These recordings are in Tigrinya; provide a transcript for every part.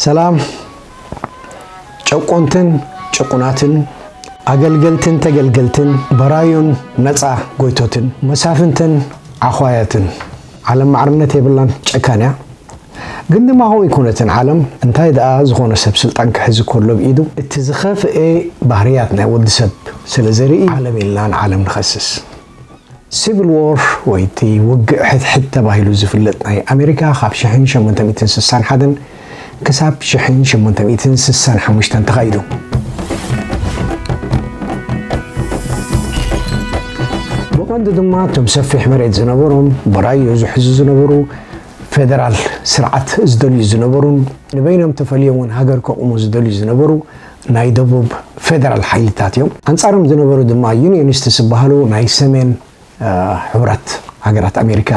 ሰላም ጨቆንትን ጭቁናትን ኣገልገልትን ተገልገልትን በራዩን ነፃ ጎይቶትን መሳፍንትን ዓዃያትን ዓለም ማዕርነት የብላን ጨካን እያ ግን ድማ ከምኡ ኣይኮነትን ዓለም እንታይ ደኣ ዝኾነ ሰብ ስልጣን ክሕዝ ከሎ ብ ኢዱ እቲ ዝኸፍኤ ባህርያት ናይ ወዲ ሰብ ስለ ዘርኢ ዓለም ኢልናን ዓለም ንኸስስ ሲቪል ዎር ወይ እቲ ውግእ ሕድሕድ ተባሂሉ ዝፍለጥ ናይ ኣሜሪካ ካብ ሽሕን ሸሞንተ ሚእትን ስሳን ሓደን ክሳብ ሽሕን ሸሞንተ ሚእትን ስሳን ሓሙሽተን ተኻይዱ። ቀንዲ ድማ እቶም ሰፊሕ መሬት ዝነበሮም በራዮ ዝሕዙ ዝነበሩ ፌደራል ስርዓት ዝደልዩ ዝነበሩን ንበይኖም ተፈልዮም እውን ሃገር ከቑሙ ዝደልዩ ዝነበሩ ናይ ደቡብ ፌደራል ሓይልታት እዮም። ኣንጻሮም ዝነበሩ ድማ ዩንዮኒስትስ ዝበሃሉ ናይ ሰሜን ሕቡራት ሃገራት ኣሜሪካ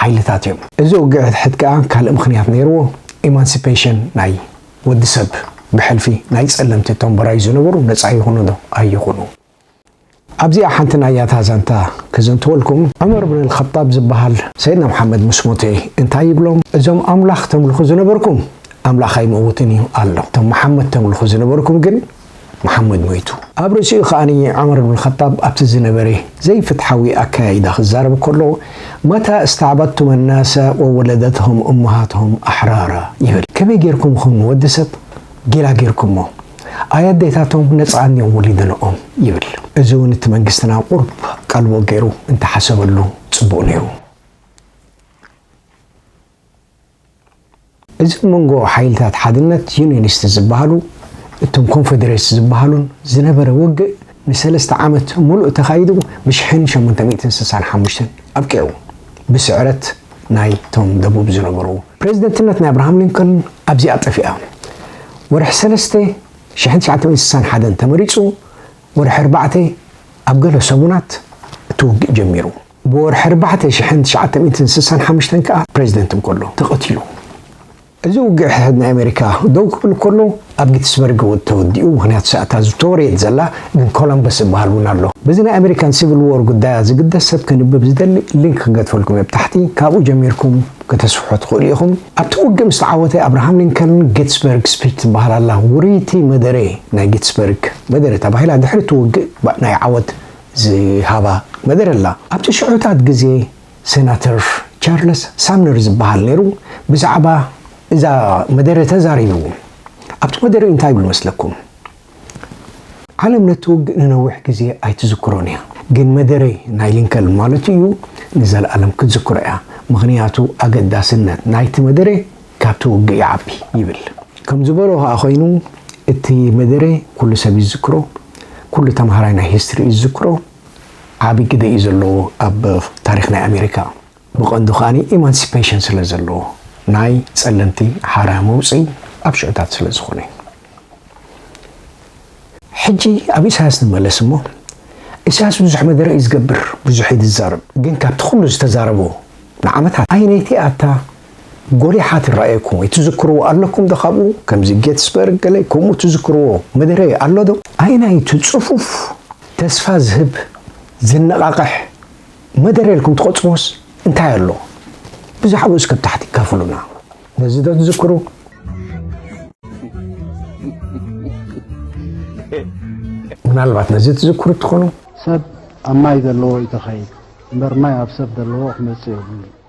ሓይልታት እዮም። እዚ ውግእት ከኣ ካልእ ምኽንያት ነይርዎ፣ ኢማንሲፔሽን ናይ ወዲ ሰብ ብሕልፊ ናይ ጸለምቲ እቶም በራዩ ዝነበሩ ነጻ ይኹኑዶ ኣይኹኑ፣ ኣብዚኣ ሓንቲ ናይ ያታ ዛንታ ከዘንትወልኩም። ዑመር ብን ኣልኸጣብ ዝብሃል ሰይድና ሙሓመድ ምስ ሞተ እንታይ ይብሎም እዞም ኣምላኽ ተምልኹ ዝነበርኩም ኣምላኽ ኣይመውትን እዩ ኣሎ እቶም ሙሓመድ ተምልኹ ዝነበርኩም ግን ሙሓመድ ሞይቱ። ኣብ ርእሲኡ ከኣ ዑመር ብን ኣልኸጣብ ኣብቲ ዝነበረ ዘይፍትሓዊ ኣከያይዳ ክዛረብ ከሎ መታ እስተዕበድቱም ኣናሰ ወወለደትሁም እመሃትሁም ኣሕራራ ይብል ከመይ ጌርኩም ኢኹም ንወዲ ሰብ ጌላ ጌርኩሞ ኣይ ኣዴታቶም ነጻን እዮም ወሊደንኦም ይብል እዚ ውን እቲ መንግስትና ቁርብ ቀልቦ ጌሩ እንተ ሓሰበሉ ጽቡቅ ኔሩ። እዚ ኣብ መንጎ ሓይልታት ሓድነት፣ ዩኒየኒስት፣ ዝበሃሉ እቶም ኮንፈደሬስ ዝበሃሉን ዝነበረ ውግእ፣ ንሰለስተ ዓመት ሙሉእ ተኻይዱ ብሽሕን ሸሞንተ ሚእትን ስሳን ሓሙሽተን ኣብቂዑ ብስዕረት ናይ ቶም ደቡብ ዝነበሩ። ፕረዚደንትነት ናይ ኣብርሃም ሊንኮልን ኣብዚኣ ጠፊኣ ወርሒ ሰለስተ ሽሕን ትሽዓተ ሚእትን ስሳን ሓደን ተመሪጹ ወርሒ ኣርባዕተ ኣብ ገለ ሰሙናት እቲ ውግእ ጀሚሩ ብወርሒ ኣርባዕተ ሽሕን ትሽዓተ ሚእትን ስሳን ሓሙሽተን ከኣ ፕረዚደንት እንከሎ ተቐቲሉ። እዚ ውግእ ናይ ኣሜሪካ ደው ክብል ከሎ ኣብ ጊትስበርግ እውን ተወዲኡ ምክንያቱ ሳእታ ዝተወረየት ዘላ ግን ኮሎምበስ ዝበሃል እውን ኣሎ። በዚ ናይ ኣሜሪካን ሲቭል ዎር ጉዳያ ዝግደስ ሰብ ከንብብ ዝደሊ ሊንክ ክንገድፈልኩም እየ ብታሕቲ ካብኡ ጀሚርኩም ከተስፍሑ ትክእሉ ኢኩም። ኣብቲ ውግእ ምስ ተዓወተ ኣብርሃም ሊንከልን ጊትስበርግ ስፒች ትበሃል ኣላ ውርይቲ መደረ ናይ ጊትስበርግ መደረ ተባሂላ ድሕሪ እቲ ውግእ ናይ ዓወት ዝሃባ መደረ ኣላ። ኣብቲ ሽዑታት ግዜ ሰናተር ቻርለስ ሳምነር ዝበሃል ነይሩ ብዛዕባ እዛ መደረ ተዛሪቡ። ኣብቲ መደረ እንታይ ይብል መስለኩም? ዓለም ነቲ ውግእ ንነዊሕ ግዜ ኣይትዝክሮን እያ፣ ግን መደረ ናይ ሊንከልን ማለቱ እዩ ንዘለኣለም ክትዝክሮ እያ፣ ምኽንያቱ ኣገዳስነት ናይቲ መደረ ካብቲ ውግእ ይዓቢ ይብል። ከም ዝበሎ ከኣ ኮይኑ እቲ መደረ ኩሉ ሰብ ይዝክሮ፣ ኩሉ ተማሃራይ ናይ ሂስትሪ እዩ ዝዝክሮ። ዓቢ ግደ እዩ ዘለዎ ኣብ ታሪኽ ናይ ኣሜሪካ። ብቐንዱ ከኣ ኢማንሲፐሽን ስለ ዘለዎ፣ ናይ ጸለምቲ ሓራ መውጽኢ ኣብ ሽዑታት ስለ ዝኾነ እዩ። ሕጂ ኣብ ኢሳያስ ንመለስ እሞ፣ ኢሳያስ ብዙሕ መደረ እዩ ዝገብር፣ ብዙሕ እዩ ዝዛረብ፣ ግን ካብቲ ኩሉ ዝተዛረቦ ንዓመታት ኣየነይቲ እያ እታ ጎሊሓ ትራኣየኩም ወይ ትዝክርዎ ኣለኩም ዶ ካብኡ ከምዚ ጌትስበርግ ገለ ከምኡ ትዝክርዎ መደረ ኣሎ ዶ? ኣየናይ ኢዩ እቲ ጽፉፍ ተስፋ ዝህብ ዘነቓቕሕ መደረ ኢልኩም ትቖጽርዎስ እንታይ ኣሎ ብዛዕብኡ እስከ ኣብ ታሕቲ ካፍሉና ነዚ ዶ ትዝክሩ? ምናልባት ነዚ ትዝክሩ ትኾኑ? ሰብ ኣብ ማይ ዘለዎ እዩ ተኸይድ እምበር ማይ ኣብ ሰብ ዘለዎ ክመጽእ የብሉን።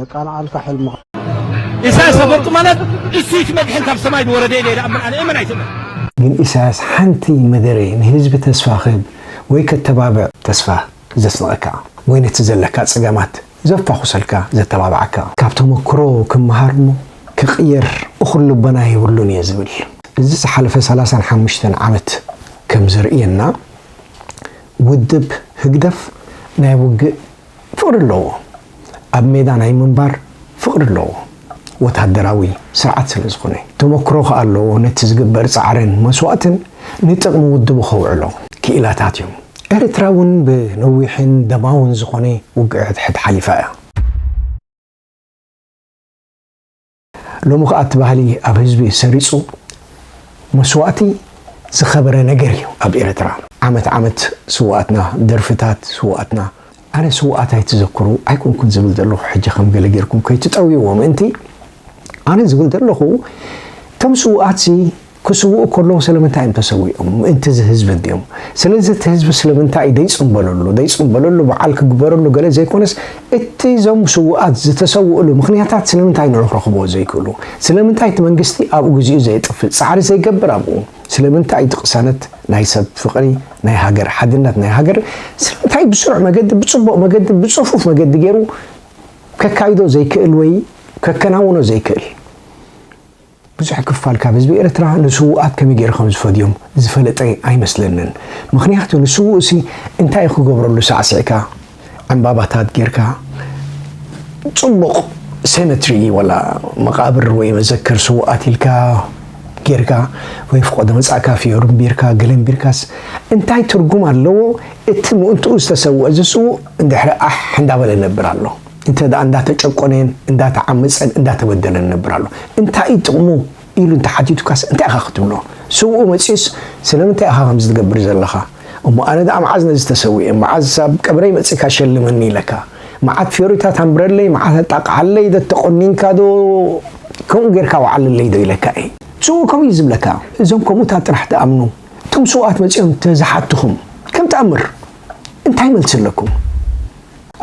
የቃንዓልካ ሕልምኻ። ኢሳያስ ኣፈወርቂ ማለት እሱይት መድሕን ካብ ሰማይ ዝወረደ ኢለ ይኣምን ኣነ እመን ኣይትእመን። ግን ኢሳያስ ሓንቲ መደረ ንህዝቢ ተስፋ ክህብ ወይ ከተባብዕ ተስፋ ዘስንቐካ ወይ ነቲ ዘለካ ጸገማት ዘፋኹሰልካ ዘተባብዓካ። ካብ ተመክሮ ክመሃር እሞ ክቕየር እኹል ልቦና የብሉን እየ ዝብል። እዚ ዝሓለፈ ሰላሳን ሓሙሽተን ዓመት ከም ዘርእየና ውድብ ህግደፍ ናይ ውግእ ፍቅሪ ኣለዎ ኣብ ሜዳ ናይ ምንባር ፍቅሪ ኣለዎ ወታደራዊ ስርዓት ስለ ዝኮነ ተመክሮ ከኣ ኣለዎ ነቲ ዝግበር ጻዕርን መስዋእትን ንጥቅሚ ውድቡ ከውዕሎ። ክኢላታት እዮም ኤርትራ ውን ብነዊሕን ደማውን ዝኮነ ውግእ ሕድሕድ ሓሊፋ እያ። ሎሚ ከኣ እቲ ባህሊ ኣብ ህዝቢ ሰሪጹ መስዋእቲ ዝከበረ ነገር እዩ ኣብ ኤረትራ። ዓመት ዓመት ስውኣትና ደርፍታት ስውኣትና ኣነ ስውኣት ኣይትዘክሩ ኣይኮንኩን ዝብል ዘለኩ ሕጂ ከም ገለ ጌርኩም ከይትጠውይዎ ምእንቲ ኣነ ዝብል ዘለኩ እቶም ስውኣትሲ ክስውኡ ከለዉ ስለምንታይ እዮም ተሰዊኦም ምእንቲ እዚ ህዝቢ እንድዮም ስለዚ እቲ ህዝቢ ስለምንታይ እዩ ደይጽምበለሉ ደይጽምበለሉ በዓል ክግበረሉ ገለ ዘይኮነስ እቲ እዞም ስውኣት ዝተሰውእሉ ምኽንያታት ስለምንታይ ንዑ ክረኽብዎ ዘይክእሉ ስለምንታይ እቲ መንግስቲ ኣብኡ ግዚኡ ዘየጥፍእ ጻዕሪ ዘይገብር ኣብኡ ስለምንታይ እቲ ቅሳነት ናይ ሰብ ፍቕሪ ናይ ሃገር ሓድነት ናይ ሃገር ስለምንታይ ብስሩዕ መገዲ ብጽቡቕ መገዲ ብጽፉፍ መገዲ ገይሩ ከካይዶ ዘይክእል ወይ ከከናውኖ ዘይክእል ብዙሕ ክፋል ካብ ህዝቢ ኤርትራ ንስዉኣት ከመይ ጌሩ ከም ዝፈድዮም ዝፈለጠ ኣይመስለንን። ምኽንያቱ ንስዉእሲ እንታይ እዩ ክገብረሉ ሳዕሲዕካ ዕንባባታት ጌርካ ጽቡቕ ሴመትሪ ዋላ መቓብር ወይ መዘክር ስዉኣት ኢልካ ጌርካ ወይ ፍቆዶ መጻእካ ፍዮሪ ኣንቢርካ ገለ ኣንቢርካስ እንታይ ትርጉም ኣለዎ? እቲ ምእንትኡ ዝተሰውኣ ዝስውእ ድሕሪ ኣሕ እንዳበለ ይነብር ኣሎ። እንተ ደኣ እንዳተጨቆነን እንዳተዓመጸን እንዳተበደለን ይነብር ኣሎ እንታይ እዩ ጥቕሙ ኢሉ እንተ ሓቲቱካስ እንታይ ኢኻ ክትብሎ ስውኡ መጺኡስ ስለምንታይ ኢኻ ከምዚ ትገብር ዘለኻ እሞ ኣነ ደኣ መዓዝ ነዚ ተሰዊኤ መዓዝ ኣብ ቀብረይ መጺእካ ሸልመኒ ኢለካ መዓት ፊዮሪታት ኣንብረለይ መዓት ኣጣቅዓለይ ዶ ተቖኒንካ ዶ ከምኡ ጌርካ ወዓለለይ ዶ ኢለካ እየ ስውኡ ከምኡ እዩ ዝብለካ እዞም ከምኡታት ጥራሕ ትኣምኑ እቶም ስውኣት መጺኦም እንተ ዝሓቱኹም ከም ተኣምር እንታይ መልሲ ኣለኩም?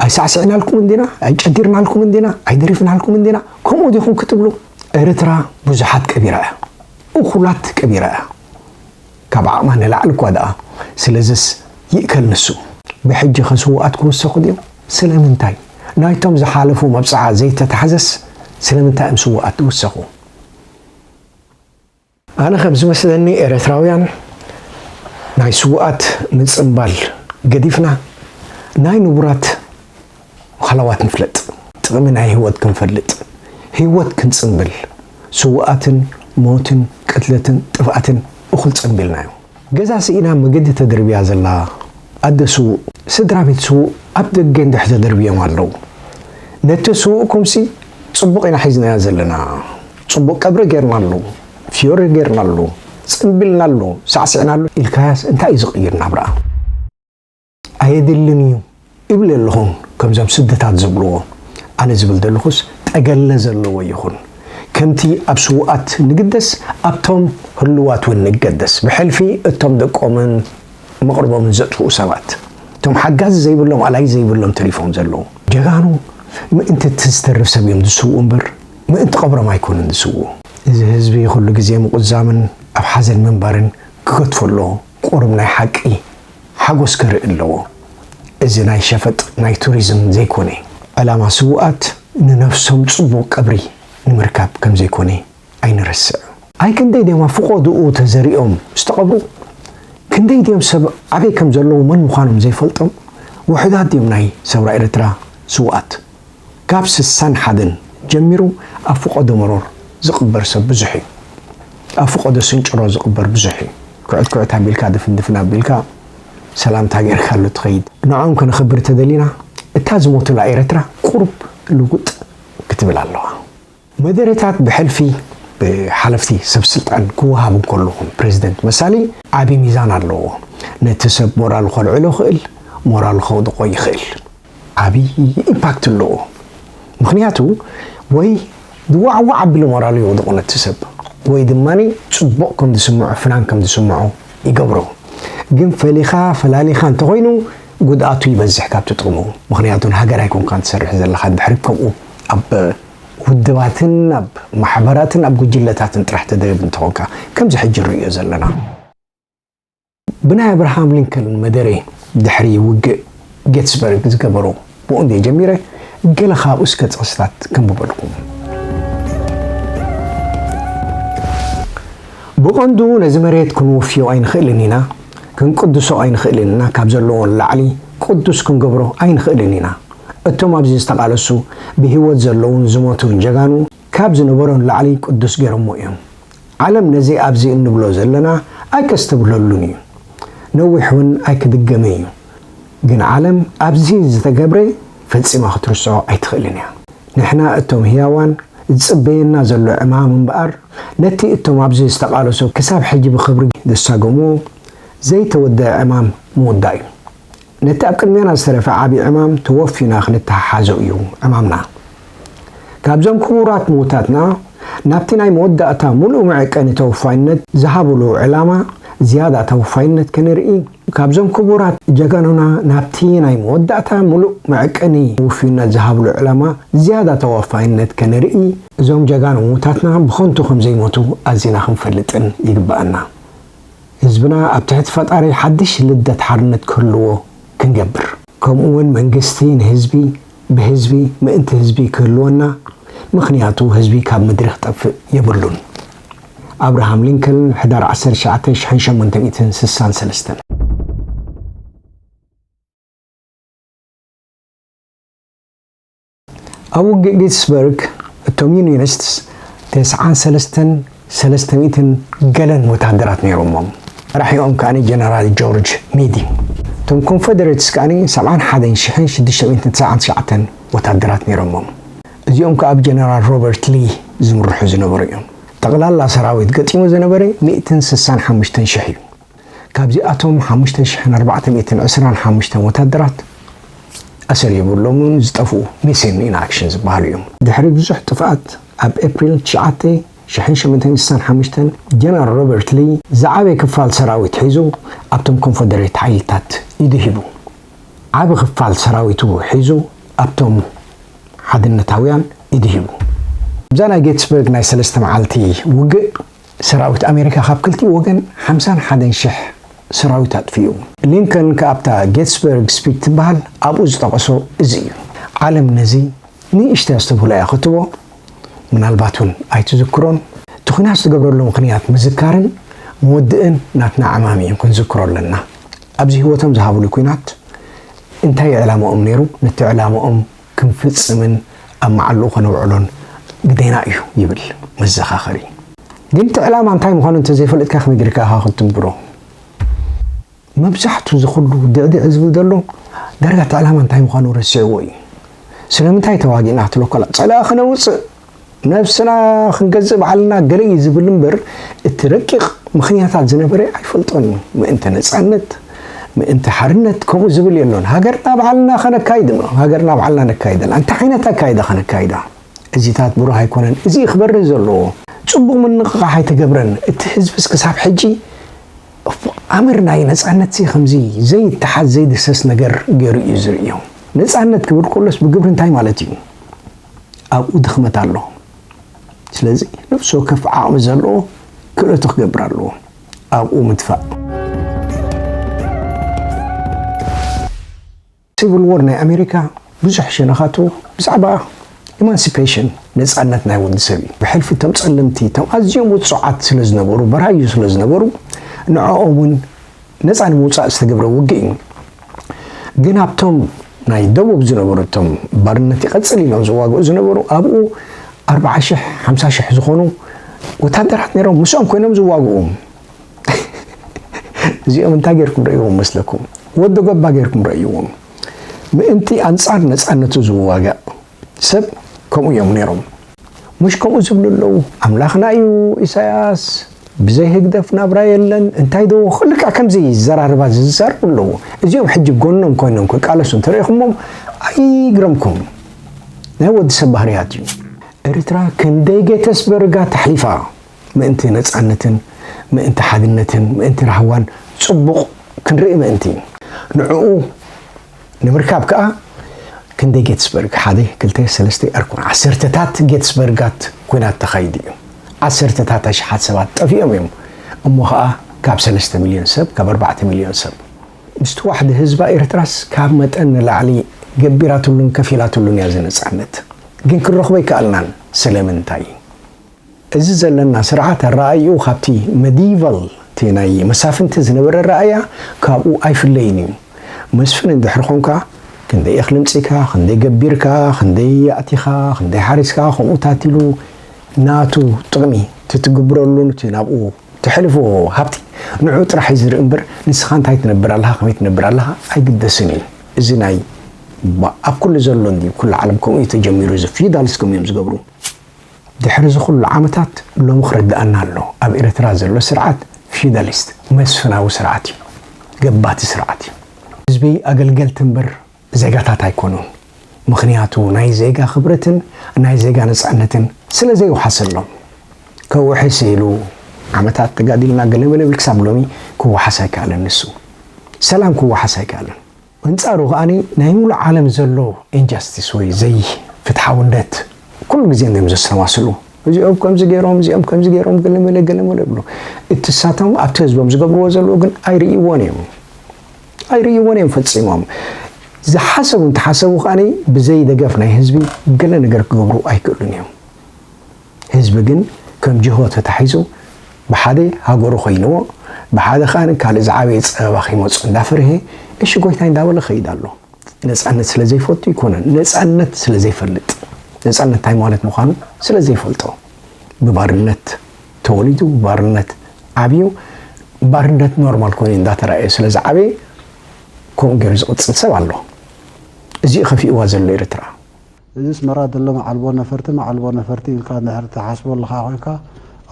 ኣይሳዕስዕናልኩምን ዲና ኣይጨዲርናልኩምን ዲና ኣይደሪፍናልኩምን ዲና ከምኡ ዲኹም ክትብሉ ኤርትራ ብዙሓት ቀቢራ እያ እኹላት ቀቢራ እያ ካብ ዓቕማ ንላዕሊ እኳ ደኣ ስለዝስ ይእከል ንሱ ብሕጂኸ ስውኣት ክውሰኹ ድዮም ስለምንታይ ናይቶም ዝሓለፉ መብጽዓ ዘይተታሕዘስ ስለምንታይ እዮም ስውኣት ዝውሰኹ። ኣነ ከም ዝመስለኒ ኤረትራውያን ናይ ስውኣት ምጽንባል ገዲፍና ናይ ንቡራት ሃላዋት ንፍለጥ። ጥቅሚ ናይ ሂወት ክንፈልጥ ሂወት ክንጽንብል ስውኣትን ሞትን ቅትለትን ጥፍኣትን እኩል ጸንቢልናዮ። ገዛ ስኢና መገዲ ተደርብያ ዘላ ኣደ ስዉእ፣ ስድራቤት ስዉእ ኣብ ደገ እንድሕር ተደርብዮም ኣለዉ። ነቲ ስዉእኩምሲ ጽቡቕ ኢና ሒዝናዮ ዘለና። ጽቡቕ ቀብሪ ጌርናሉ፣ ፍዮሪ ጌርናሉ፣ ጽምቢልናሉ፣ ሳዕሲዕናሉ ኢልካያስ እንታይ እዩ ዝቕይር ናብራ? ኣየድልን እዩ እብል ኣለኹ ከምዞም ስድታት ዝብልዎ ኣነ ዝብል ዘለኹስ ጠገለ ዘለዎ ይኹን ከምቲ ኣብ ስውኣት ንግደስ ኣብቶም ህልዋት ውን ንገደስ ብሕልፊ እቶም ደቆምን መቕርቦምን ዘጥፍኡ ሰባት እቶም ሓጋዚ ዘይብሎም ኣላይ ዘይብሎም ተሪፎም ዘለዉ ጀጋኑ ምእንቲ እቲ ዝተርፍ ሰብ እዮም ዝስውኡ እምበር ምእንቲ ቐብሮም ኣይኮኑን ዝስውኡ። እዚ ህዝቢ ኩሉ ግዜ ምቁዛምን ኣብ ሓዘን ምንባርን ክገድፎ ኣለዎ። ቁሩብ ናይ ሓቂ ሓጎስ ከርኢ ኣለዎ እዚ ናይ ሸፈጥ ናይ ቱሪዝም ዘይኮነ። ዕላማ ስውኣት ንነብሶም ጽቡቅ ቀብሪ ንምርካብ ከምዘይኮነ ኣይንረስዕ። ኣይ ክንደይ ድዮም ኣብ ፍቆድኡ ተዘሪኦም ዝተቀብሩ ክንደይ ድዮም ሰብ ኣበይ ከምዘለዉ መን ምኳኖም ዘይፈልጦም ውሑዳት ድዮም ናይ ሰውራ ኤረትራ ስውኣት። ካብ ስሳን ሓደን ጀሚሩ ኣብ ፍቆዶ መሮር ዝቅበር ሰብ ብዙሕ እዩ ኣብ ፍቆዶ ስንጭሮ ዝቅበር ብዙሕ እዩ ኩዕት ኩዕት ኣቢልካ ድፍን ድፍን ኣቢልካ ሰላምታ ጌርካሉ ትከይድ ንዖም ከነክብር ተደሊና እታ ዝሞቱላ ኤረትራ ቁሩብ ልውጥ ክትብል ኣለዋ። መደረታት ብሕልፊ ብሓለፍቲ ሰብ ስልጣን ክወሃብ እንከሎ ፕረዚደንት መሳሊ ዓቢ ሚዛን ኣለዎ። ነቲ ሰብ ሞራሉ ከልዕሎ ይኽእል፣ ሞራሉ ከውድቖ ይኽእል። ዓቢ ኢምፓክት ኣለዎ። ምኽንያቱ ወይ ብዋዕዋዕ ኣቢሉ ሞራሉ የውድቖ ነቲ ሰብ ወይ ድማ ጽቡቕ ከም ዝስምዖ ፍናን ከም ዝስምዖ ይገብሮ። ግን ፈሊኻ ፈላሊኻ እንተኾይኑ ጉድኣቱ ይበዝሕ ካብቲ ጥቕሙ። ምኽንያቱ ንሃገር ኣይኮንካን ትሰርሕ ዘለኻ ድሕሪ ከምኡ ኣብ ውድባትን ኣብ ማሕበራትን ኣብ ጉጅለታትን ጥራሕ ተደርብ እንተኾንካ ከምዚ ሕጂ ንርእዮ ዘለና ብናይ ኣብርሃም ሊንከልን መደረይ ድሕሪ ውግእ ጌትስበርግ ዝገበሮ ብኡ እንድየ ጀሚረ ገለ ካብኡ እስከ ጥቕስታት ከንብበልኩም። ብቐንዱ ነዚ መሬት ክንውፍዮ ኣይንኽእልን ኢና፣ ክንቅድሶ ኣይንኽእልን ኢና፣ ካብ ዘለዎ ንላዕሊ ቅዱስ ክንገብሮ ኣይንኽእልን ኢና። እቶም ኣብዚ ዝተቃለሱ ብሂወት ዘለዉን ዝሞቱን ጀጋኑ ካብ ዝነበሮ ንላዕሊ ቅዱስ ጌሮሞ እዮም ዓለም ነዚ ኣብዚ እንብሎ ዘለና ኣይከስተብህለሉን እዩ ነዊሕ ውን ኣይክድገምን እዩ ግን ዓለም ኣብዚ ዝተገብረ ፈጺማ ክትርስዖ ኣይትክእልን እያ ንሕና እቶም ህያዋን ዝጽበየና ዘሎ ዕማም እምበኣር ነቲ እቶም ኣብዚ ዝተቃለሱ ክሳብ ሕጂ ብክብሪ ዘሳገምዎ ዘይተወደኣ ዕማም ምውዳእ እዩ። ነቲ ኣብ ቅድሜና ዝተረፈ ዓቢ ዕማም ተወፊና ክንተሓሓዞ እዩ ዕማምና። ካብዞም ክቡራት ምዉታትና ናብቲ ናይ መወዳእታ ምሉእ መዐቀኒ ተወፋይነት ዝሃብሉ ዕላማ ዝያዳ ተወፋይነት ከነርኢ፣ ካብዞም ክቡራት ጀጋኑና ናብቲ ናይ መወዳእታ ምሉእ መዐቀኒ ውፍይነት ዝሃብሉ ዕላማ ዝያዳ ተወፋይነት ከነርኢ፣ እዞም ጀጋኑ ምዉታትና ብኸንቱ ከምዘይሞቱ ኣዚና ክንፈልጥን ይግበኣና። ህዝብና ኣብ ትሕቲ ፈጣሪ ሓድሽ ልደት ሓርነት ክህልዎ ክንገብር። ከምኡ ውን መንግስቲ ንህዝቢ፣ ብህዝቢ፣ ምእንቲ ህዝቢ ክህልወና ምኽንያቱ ህዝቢ ካብ ምድሪ ክጠፍእ የብሉን። ኣብርሃም ሊንከልን ሕዳር ዓሰርተ ትሽዓተ ሽሕን ሸሞንተ ሚእትን ስሳን ሰለስተን። ኣብ ውግእ ጌትስበርግ እቶም ዩንዮኒስትስ ተስዓን ሰለስተን ሰለስተ ሚእትን ገለን ወተሃደራት ነይሮሞም፣ መራሒኦም ከኣ ጀነራል ጆርጅ ሚዲ። እቶም ኮንፈደሬትስ ከኣ ሰብዓን ሓደን ሽሕን ሽዱሽተ ሚእትን ትስዓን ትሽዓተን ወተሃደራት ነይሮሞም፣ እዚኦም ከኣ ብጀነራል ሮበርት ሊ ዝምርሑ ዝነበሩ እዮም። ጠቕላላ ሰራዊት ገጢሙ ዝነበረ ሚእትን ስሳን ሓሙሽተን ሽሕ እዩ። ካብዚኣቶም ሓሙሽተ ሽሕን ኣርባዕተ ሚእትን ዕስራን ሓሙሽተን ወታደራት ኣሰር የብሎምን፣ ዝጠፍኡ፣ Missing in Action፣ ዝበሃሉ እዮም። ድሕሪ ብዙሕ ጥፍኣት ኣብ ኤፕሪል ትሽዓተ ሽሕን ሸሞንተ ሚእትን ስሳን ሓሙሽተን ጀነራል ሮበርት ሊ ዝዓበየ ክፋል ሰራዊት ሒዙ ኣብቶም ኮንፈደሬት ሓይልታት ኢዱ ሂቡ። ዓቢ ክፋል ሰራዊቱ ሒዙ ኣብቶም ሓድነታውያን ኢዱ ሂቡ። ኣብዛ ናይ ጌትስበርግ ናይ ሰለስተ መዓልቲ ውግእ፣ ሰራዊት ኣሜሪካ ካብ ክልቲኡ ወገን ሓምሳን ሓደን ሽሕ ሰራዊት ኣጥፊኡ። ሊንከን ከኣ ኣብታ ጌትስበርግ ስፒት ትበሃል ኣብኡ ዝጠቐሶ እዚ እዩ። ዓለም ነዚ ንእሽተይ ኣስተብህሎ እያ ክትቦ፣ ምናልባት'ውን ኣይትዝክሮን። እቲ ኲናት ዝተገብረሉ ምኽንያት ምዝካርን ምውድእን ናትና ዕማም እዩ፣ ክንዝክሮ ኣለና። ኣብዚ ህይወቶም ዝሃቡሉ ኲናት እንታይ እዩ ዕላማኦም ነይሩ፣ ነቲ ዕላማኦም። ክንፍጽምን ኣብ መዓልኡ ከነውዕሎን ግዴና እዩ ይብል መዘኻኸሪ። ግን እቲ ዕላማ እንታይ ምዃኑ እንተዘይፈለጥካ ከመይ ጌርካ ኢኻ ክትትግብሮ? መብዛሕቱ እዚ ኩሉ ድዕድዕ ዝብል ዘሎ ዳርጋ እቲ ዕላማ እንታይ ምዃኑ ረሲዕዎ እዩ። ስለምንታይ ተዋጊእና ክትብሎ ከላ ጸላኢ ከነውጽእ ነብስና ክንገዝእ ባዕልና ገለ እዩ ዝብል እምበር እቲ ረቂቕ ምኽንያታት ዝነበረ ኣይፈልጦን እዩ። ምእንቲ ነጻነት፣ ምእንቲ ሓርነት ከምኡ ዝብል የሎን። ሃገርና ባዕልና ከነካይድ እሞ ሃገርና ባዕልና ነካይደላ። እንታይ ዓይነት ኣካይዳ ከነካይዳ? እዚታት ብሩህ ኣይኮነን። እዚ እዩ ክበርህ ዘለዎ። ጽቡቕ ምንቕቓሕ ኣይተገብረን። እቲ ህዝብስ ክሳብ ሕጂ ኣምር ናይ ነጻነትሲ ከምዚ ዘይተሓዝ ዘይድህሰስ ነገር ገይሩ እዩ ዝርእዮ። ነጻነት ክብል ከሎስ ብግብሪ እንታይ ማለት እዩ? ኣብኡ ድኽመት ኣሎ ስለዚ ነፍሲ ወከፍ ዓቕሚ ዘለዎ ክእለቱ ክገብር ኣለዎ ኣብኡ ምድፋእ። ሲቭል ዎር ናይ ኣሜሪካ ብዙሕ ሸነኻቱ ብዛዕባ ኢማንሲፔሽን ነፃነት ናይ ወዲ ሰብ እዩ። ብሕልፊ እቶም ፀለምቲ እቶም ኣዝዮም ውፁዓት ስለዝነበሩ በራዩ ስለዝነበሩ ንዕኦም እውን ነጻ ንምውጻእ ዝተገብረ ውግእ እዩ። ግን ኣብቶም ናይ ደቡብ ዝነበሩ እቶም ባርነት ይቐጽል ኢሎም ዝዋግኡ ዝነበሩ ኣብኡ ኣርብዓ ሽሕ ሓምሳ ሽሕ ዝኾኑ ወታደራት ነይሮም ምስኦም ኮይኖም ዝዋግኡ እዚኦም እንታይ ጌርኩም ረእይዎም መስለኩም? ወዲ ጎባ ጌርኩም ረእይዎም ምእንቲ ኣንጻር ነጻነቱ ዝዋጋእ ሰብ ከምኡ እዮም ነይሮም ሙሽ ከምኡ ዝብሉ ኣለው ኣምላኽና እዩ ኢሳያስ ብዘይ ህግደፍ ናብራ የለን እንታይ ዶ ልክዕ ከምዚ ዘራርባ ዝዛረቡ ኣለዎ እዚኦም ሕጂ ጎኖም ኮይኖም ክቃለሱ እንተሪኢኹሞም ኣይግረምኩም ናይ ወዲ ሰብ ባህርያት እዩ ኤርትራ ክንደይ ጌተስበርጋ ተሕሊፋ ምእንቲ ነጻነትን ምእንቲ ሓድነትን ምእንቲ ራህዋን ጽቡቕ ክንርኢ ምእንቲ ንዕኡ ንምርካብ ከኣ ክንደይ ጌትስበርግ ሓደ ክልተ ሰለስተ ኣርኩን ዓሰርተታት ጌትስበርጋት ኩናት ተኻይዱ እዩ። ዓሰርተታት ኣሽሓት ሰባት ጠፊኦም እዮም። እሞ ከኣ ካብ ሰለስተ ሚልዮን ሰብ ካብ ኣርባዕተ ሚልዮን ሰብ። ምስ ተዋሕደ ህዝባ ኤርትራስ ካብ መጠን ንላዕሊ ገቢራትሉን ከፊላትሉን እያ እዚ ነጻነት። ግን ክንረኽቦ ኣይከኣልናን። ስለምንታይ? እዚ ዘለና ስርዓት ኣረኣእይኡ ካብቲ መዲይቫል፣ እቲ ናይ መሳፍንቲ ዝነበረ ኣረኣእያ፣ ካብኡ ኣይፍለይን እዩ። መስፍን እንድሕሪ ኾንካ፣ ክንደይ እኽሊ ኣምጺእካ፣ ክንደይ ገቢርካ፣ ክንደይ ኣእቲኻ፣ ክንደይ ሓሪስካ፣ ከምኡ ታቲሉ ናቱ ጥቕሚ እቲ ትግብረሉን እቲ ናብኡ ተሕልፎ ሃብቲ ንዕኡ ጥራሕ እዩ ዝርኢ እምበር ንስኻ እንታይ ትነብር ኣለኻ ከመይ ትነብር ኣለኻ ኣይግደስን እዩ። እዚ ናይ ኣብ ኩሉ ዘሎ እንድዩ ኩሉ ዓለም ከምኡ እዩ ተጀሚሩ እዚ ፊውዳሊስት ከምኡ እዮም ዝገብሩ። ድሕሪ እዚ ኩሉ ዓመታት ሎሚ ክርድኣና ኣሎ ኣብ ኤረትራ ዘሎ ስርዓት ፊውዳሊስት፣ መስፍናዊ፣ ስርዓት እዩ። ገባቲ ስርዓት እዩ። ህዝቢ ኣገልገልቲ እምበር ዜጋታት ኣይኮኑን። ምኽንያቱ ናይ ዜጋ ክብረትን ናይ ዜጋ ነጻነትን ስለ ዘይውሓሰሎም። ከውሕስ ኢሉ ዓመታት ተጋዲልና ገለመለብል ክሳብ ሎሚ ክወሓስ ኣይከኣለን ንሱ። ሰላም ክወሓስ ኣይከኣለን። በንጻሩ ከኣ ናይ ምሉእ ዓለም ዘሎ ኢንጃስቲስ ወይ ዘይፍትሓውነት ኩሉ ግዜ እንድዮም ዘሰማስሉ። እዚኦም ከምዚ ገይሮም እዚኦም ከምዚ ገይሮም ገለመለ ገለመለ ይብሉ። እቲ ንሳቶም ኣብቲ ህዝቦም ዝገብርዎ ዘለዉ ግን ኣይርእይዎን እዮም። ኣይርእይዎን እዮም ፈጺሞም። ዝሓሰቡ እንተሓሰቡ ከኣ ብዘይ ደገፍ ናይ ህዝቢ ገለ ነገር ክገብሩ ኣይክእሉን እዮም። ህዝቢ ግን ከም ጅሆ ተታሒዙ ብሓደ ሃገሩ ኮይንዎ ብሓደ ከኣ ካልእ ዝዓበየ ጸበባ ከይመጾ እንዳፈርሔ እሺ ጎይታይ እንዳበለ ይኸይድ ኣሎ። ነጻነት ስለ ዘይፈቱ ኣይኮነን ነጻነት ስለ ዘይፈልጥ ነጻነት እንታይ ማለት ምዃኑ ስለ ዘይፈልጦ ብባርነት ተወሊዱ ባርነት ዓብዩ ባርነት ኖርማል ኮይኑ እንዳተራእየ ስለ ዝዓበየ ከምኡ ገይሩ ዝቕጽል ሰብ ኣሎ። እዚ'ዩ ከፊእዋ ዘሎ ኤርትራ። እዚስ መራ ድለ መዓልቦ ነፈርቲ መዓልቦ ነፈርቲ ኢልካ እንድሕር ትሓስቦ ኣለኻ ኮይንካ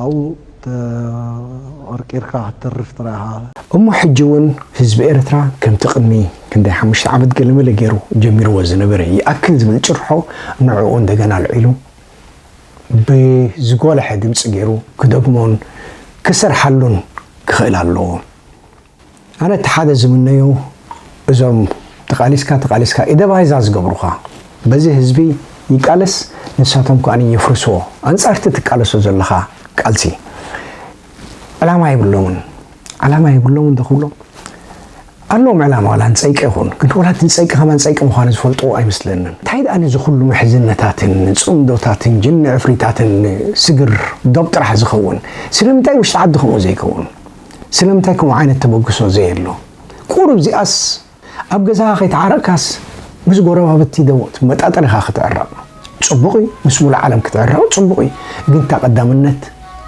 ኣብኡ ተቐርቂርካ ክትተርፍ ጥራይ ኢኻ። እሞ ሕጂ ውን ህዝቢ ኤርትራ ከምቲ ቅድሚ ክንደይ ሓሙሽተ ዓመት ገለመለ ጌሩ ጀሚርዎ ዝነበረ ይኣክል ዝብል ጭርሖ ንዕኡ እንደገና ኣልዒሉ ብዝጎለሐ ድምጺ ጌሩ ክደግሞን ክሰርሓሉን ክኽእል ኣለዎ። ኣነ እቲ ሓደ ዝምነዮ እዞም ተቃሊስካ ተቃሊስካ ኢደባይዛ ዝገብሩኻ በዚ ህዝቢ ይቃለስ ንሳቶም ከኣ የፍርስዎ ኣንጻርቲ ትቃለሶ ዘለኻ ቃልሲ ዕላማ የብሎምን ዕላማ የብሎምን ዶ ክብሎም ኣለዎም ዕላማ ዋላ ንጸይቂ ይኹን ግን ዋላ እቲ ንጸይቂ ከማን ጸይቂ ምዃኑ ዝፈልጥዎ ኣይመስለንን እንታይ ደኣ ነዚ ኩሉ ምሕዝነታትን ጽምዶታትን ጅኒ ዕፍሪታትን ስግር ዶብ ጥራሕ ዝኸውን ስለምንታይ ውሽጢ ዓዲ ከምኡ ዘይከውን ስለምንታይ ከምኡ ዓይነት ተበግሶ ዘየሎ ቁሩብ እዚኣስ ኣብ ገዛኻ ከይተዓረቅካስ ምስ ጎረባብቲ ዶ ትመጣጠር ኢኻ ክትዕረቅ ጽቡቅ እዩ ምስ ሙሉእ ዓለም ክትዕረቅ ጽቡቅ እዩ ግን እታ ቀዳምነት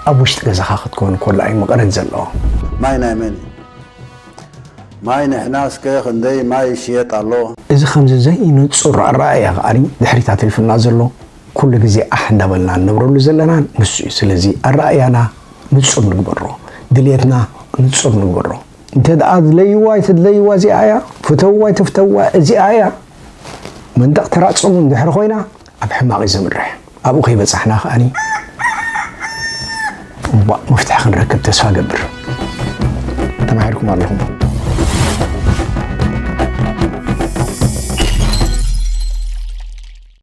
ኣብ ውሽጢ ገዛኻ ክትከውን ኮላ እዩ መቀረት ዘለዎ። ማይ ናይ መን እዩ ማይ ንሕና እስከ ክንደይ ማይ ይሽየጥ ኣሎ። እዚ ከምዚ ዘይንጹር ኣረኣእያ ከኣ ድሕሪት ኣትሪፉና ዘሎ፣ ኩሉ ግዜ ኣሕ እንዳበልና እንነብረሉ ዘለና ንሱ እዩ። ስለዚ ኣረኣእያና ንጹር ንግበሮ፣ ድልየትና ንጹር ንግበሮ። እንተድኣ ኣድለይዋ ኣይትድለይዋ እዚኣ እያ፣ ፍተውዋ ኣይትፍተውዋ እዚኣ እያ መንደቕ ተራጽሙ እንድሕሪ ኮይና ኣብ ሕማቕ እዩ ዘምርሕ። ኣብኡ ከይበጻሕና ከኣ እምቧእ መፍትሒ ክንረክብ ተስፋ እገብር። ተማሂርኩም ኣለኹም።